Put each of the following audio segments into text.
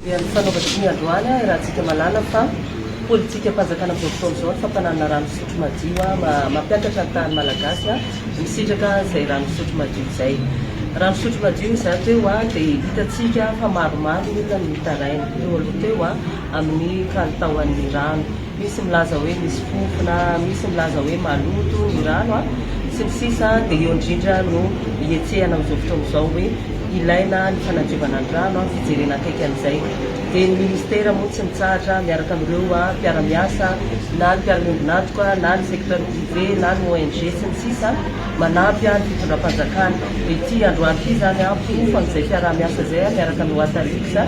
Dia ny fanaovantsika ny androany ahy Rahatsika Malala fa politikam-panjakana amin'izao fotoana izao ny fampananana rano fisotro madio mampiakatra ny tahan'ny Malagasy misitraka izay rano fisotro madio izay. Rano fisotro madio izaho teo dia hitantsika fa maromaro ny olona no mitaraina teo aloha teo amin'ny kalitaon'ny rano. misy milaza hoe misy fofona, misy milaza hoe maloto ny rano a, sy ny sisa Dia eo indrindra no hihetsehana amin'izao fotoana izao hoe ilaina ny fanadiovana ny rano a, fijerena akaiky an'izay Dia ny ministera moa tsy mitsahatra miaraka amin'ireo mpiara-miasa na ny mpiara-miombon'antoka na ny secteur privé na ny ONG sy ny sisa manampy a ny fitondram-panjakana Dia ity androany ity izany a, fofo an'izay mpiara-miasa izay a miaraka amin'ny Water Lux a,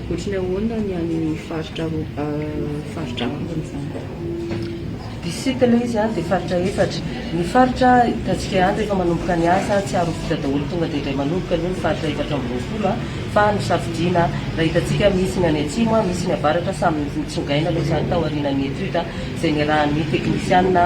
Ohatry ny ahoana ny any faritra faritra ambiny izany? District aloha izy dia faritra efatra. Ny faritra hitantsika any rehefa manomboka ny asa tsy ary ho vita daholo tonga dia indray manoboka aloha ny faritra efatra amby roapolo fa nosafidiana raha hitantsika misy ny any atsimo, misy ny avaratra samy nitsongaina aloha izany taorianan'ny étude izay niarahan'ny teknisiana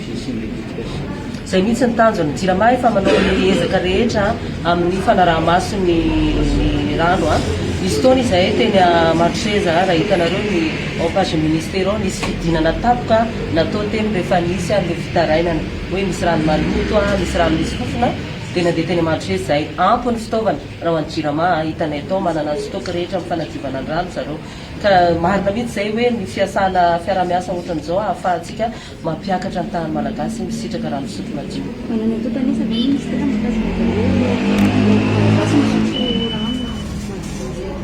Izay mihitsy ny tanjon'ny Jirama efa manao ny ezaka rehetra amin'ny fanaraha-maso ny rano. Nisy fotoana izahay teny Ambatoseza raha hitanareo ny en page ny ministera ao nisy fidinana tampoka natao teny rehefa nisy an'ireo fitarainana hoe misy rano maloto, misy rano misy fofona dia nandeha teny Ambatoseza izahay. Ampy ny fitaovana raha ho an'ny Jirama, hitanay tao manana ny stock rehetra amin'ny fanadiovana ny rano zareo ka marina mihitsy izay hoe ny fiasana fiaraha-miasa ohatran'izao ahafahantsika Mampiakatra ny tahan'ny Malagasy ny misitraka raha misotro madio. Manana doute an'isa ve ny Minisitera mahakasika izay hoe ny Malagasy misotro rano madio ireny?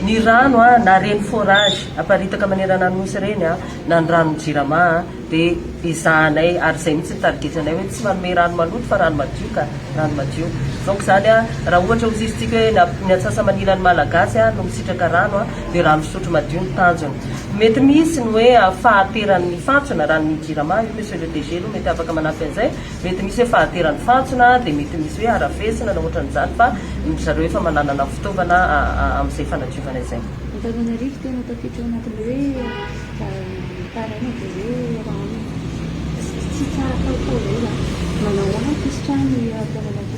Ny rano na ireny forage aparitaka manerana ny Nosy ireny na ny ranon'ny Jirama dia ezahanay ary izay mihitsy ny tarigetranay hoe tsy manome rano maloto fa rano madio ka, rano madio. Donc izany raha ohatra ho zistika hoe ny antsasa-manilan'ny Malagasy no misitraka rano dia rano fisotro madio no tanjona. Mety misy ny hoe fahateran ny fantsona raha ny jirama io monsieur le DG aloha mety afaka manampy an'izay, mety misy hoe fahateran ny fantsona dia mety misy hoe harafesina na otran'izany fa ry zareo efa mananana fitaovana amin'izay fanadiovana izay. Antananarivo tena tafiditra ao anatin'ilay hoe mitaraina dia hoe raha aminy. Tsy tsara kalitao izay izany. Manao ahy pisitra ny eto Antananarivo.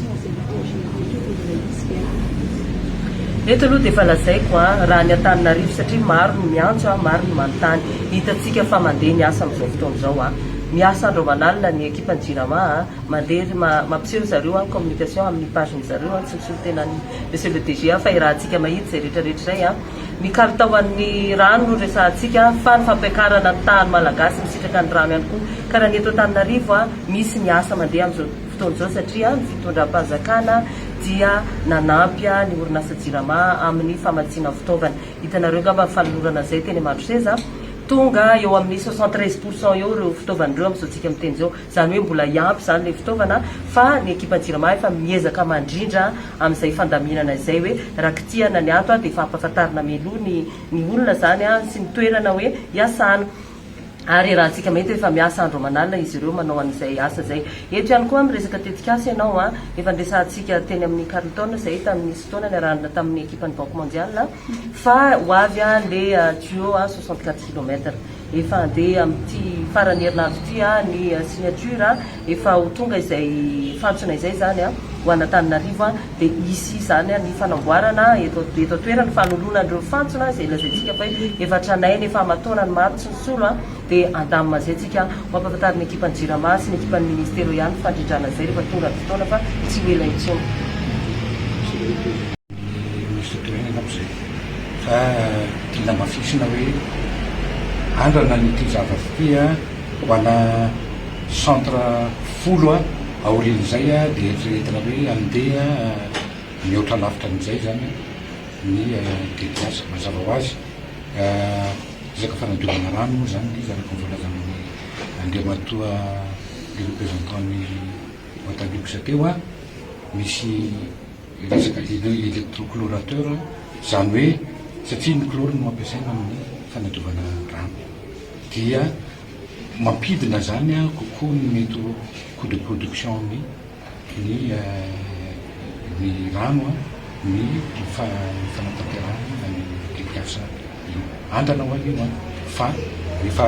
Eto aloha dia efa lazaiko a, raha ny Antananarivo satria maro no miantso a, maro no manontany. Hitantsika fa mandeha ny asa amin'izao fotoana izao a. Miasa andro aman'alina ny ekipan'ny Jirama a, mandeha ry ma, mampiseho ry zareo a, ny communication amin'ny page-ny zareo a, tsy misolo tena an'i Monsieur le DG a, fa irahantsika mahitsy izay rehetra rehetra izay a. Ny kalitaon'ny rano no resahantsika fa ny fampiakarana ny tahan'ny Malagasy misitraka ny rano ihany koa. Ka raha ny eto Antananarivo a, misy ny asa mandeha amin'izao. fotoana izao satria ny fitondram-panjakana dia nanampy ny orinasa Jirama amin'ny famatsiana fitaovana. Hitanareo angamba ny fanolorana izay teny Ambatoseza. Tonga eo amin'ny soixante treize pour cent eo ireo fitaovana ireo amin'izao tsika miteny izao. Izany hoe mbola hiampy izany ilay fitaovana fa ny ekipan'ny Jirama efa miezaka mandrindra amin'izay fandaminana izay hoe raha kitihana ny ato dia efa ampahafantarina mialoha ny olona izany sy ny toerana hoe hiasana. ary raha antsika mahita efa miasa andro aman'alina izy ireo manao an'izay asa izay. Eto ihany koa miresaka tetikasa ianao an! Efa niresahantsika teny amin'ny Carlton izay tamin'ny nisy fotoana niarahana tamin'ny ekipan'ny Banque Mondiale fa ho avy an le tuyau an soixante quatre kilomètre. Efa handeha amin'ity faran'ny herinandro ity an ny signature an! Efa ho tonga izay fantsona izay izany ho an'Antananarivo dia hisy izany ny fanamboarana eto eto an-toerana ny fanoloana an'ireo fantsona izay lazaintsika fa hoe efa tranainy efa aman-taona ny maro tsy nisolo dia handamina an'izay tsika ho ampahafantarin'ny ekipan'ny Jirama sy ny ekipan'ny Ministera eo ihany ny fandrindrana izay rehefa tonga ny fotoana fa tsy ho ela intsony. ny Minisitra Toerana angamba izay fa tia lamafisina hoe andrana an'ity zavatra ity a! ho ana centre folo a! aorian'izay dia eritreretina hoe andeha mihoatra lavitra an'izay izany ny tetikasa. Mazava ho azy resaka fanadiovana rano moa izany ilay izy araka ny voalazan'i Andriamatoa le représentant-n'ny Wataliuxa teo a! misy Miresaka dia ilay électroclorateur, izany hoe satria ny chlore no ampiasaina amin'ny fanadiovana rano dia mampidina izany kokoa ny mety ho coût de production ny ny ny rano ny fanatanterahana ny tetikasa. Andrana ho an'io an! Fa rehefa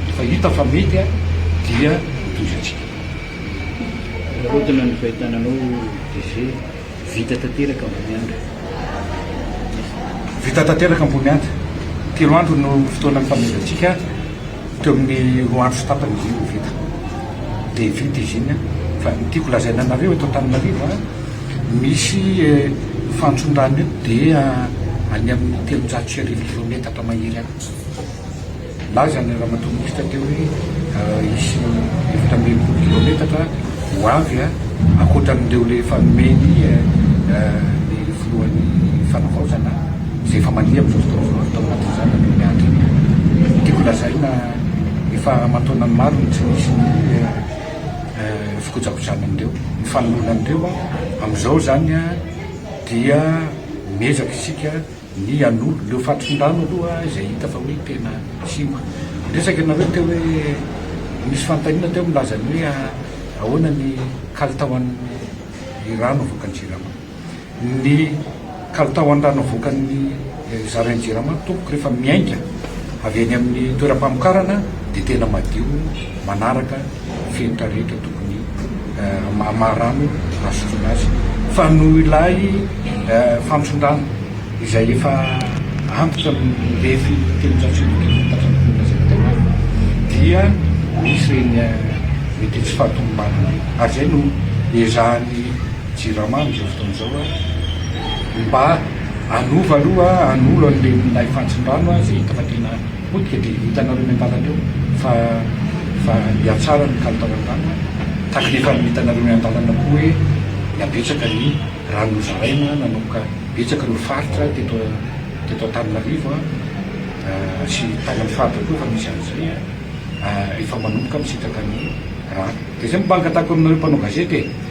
rehefa hita fa mety an! Dia mitovy antsika. Korontana ny fahitana anao DG, vita tanteraka Amboniandra. Vita tanteraka Amboniandra. Telo andro no fotoanan'ny fanomezantsika. Teo amin'ny roa andro sy tapany izy io no vita. Dia vita izy iny. Fa ny tiako lazaina anareo eto Antananarivo, misy fantson-drano eto dia any amin'ny telonjato sy arivo kilaometatra mahery any. Nilaza ny Ramatoa Minisitra teo hoe hisy efatra ambin'ny folo kilaometatra ho avy ankoatran'ireo efa nomeny ny Filohan'ny Fanavaozana. izay efa mandeha amin'izao fotoana izao atao anatin'izany aloha ny ady iny. Tiako lazaina efa aman-taonany maro no tsy nisy ny fikojakojana an'ireo, ny fanoloana an'ireo. Amin'izao izany dia miezaka isika ny hanolo ireo fatronin-drano aloha izay hita fa hoe tena simba. Niresaka ianareo teo hoe nisy fanontaniana teo milaza ny hoe ahoana ny kalitaon'ny rano avoakan'i Jirama. ny kalitao an-drano avoakan'ny zarain'ny Jirama tompoko rehefa miainga avy eny amin'ny toeram-pamokarana dia tena madio manaraka ny fenitra rehetra tokony maha rano azotroana azy fa noho ilay fantson-drano izay efa antitra mirefy telonjato sy arivo kilaometatra ny commune Zaibatavana dia misy ireny mety tsy fahatomombanana ireny ary izay no ezahan'ny Jirama amin'izao fotoana izao a! Mba anova aloha an'olo an'ireny milay fantson-drano a! Izay hita fa tena potika dia hitanareo eny an-dalana eo fa fa hihatsara ny kalitao ny rano a! Tahaka ny efa hitanareo eny an-dalana koa hoe mba betsaka ny rano nozaraina nanomboka betsaka ireo faritra teto teto Antananarivo a! sy tany amin'ny faritra koa efa misy an'izay a! efa manomboka misitraka ny rano. Dia izay mba angatahiko aminareo mpanao gazety e!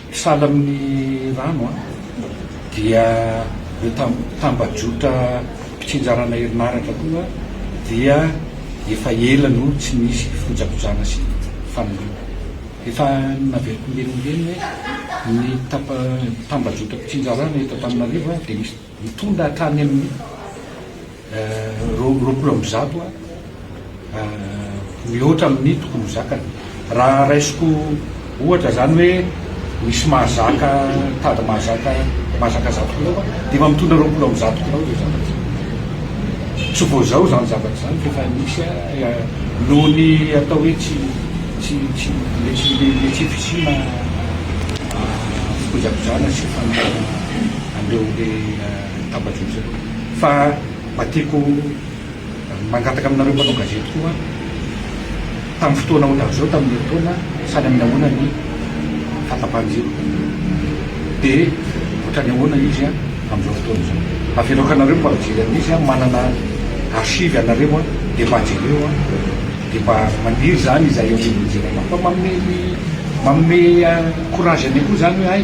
Sahala amin'ny rano dia ireo tambajotra mpitsinjarana herinaratra koa dia efa ela no tsy nisy fikojakojana sy fanoriana. Efa naveriko mirenireny hoe ny tambajotra mpitsinjarana eto Antananarivo dia misy. Mitondra hatrany amin'ny roapolo amby zato mihoatra amin'ny tokony ho zakany. Raha raisiko ohatra izany hoe misy mahazaka tady mahazaka mahazaka zato kilao aho dia efa mitondra roapolo amby zato kilao izay zavatra izay. Tsy vao izao izany zavatra izany fa efa nisy noho ny atao hoe tsy tsy tsy le tsy le tsy fisiana fikojakojana sy fanaraha-maso. an'ireo le tambajotra ireo fa mba tiako mangataka aminareo mpanao gazety koa tamin'ny fotoana ohatran'izao tamin'ny herintaona sady amin'ny ahoana ny fahatapahan'izy io dia ohatran'ny ahoana izy an amin'izao fotoana izao mba avereo ka nareo mba mijery an'izy an manana archive anareo an dia mba jereo an dia mba maniry izany izahay eo anivon'ny jirama fa manome ny manome courage anay koa izany hoe hay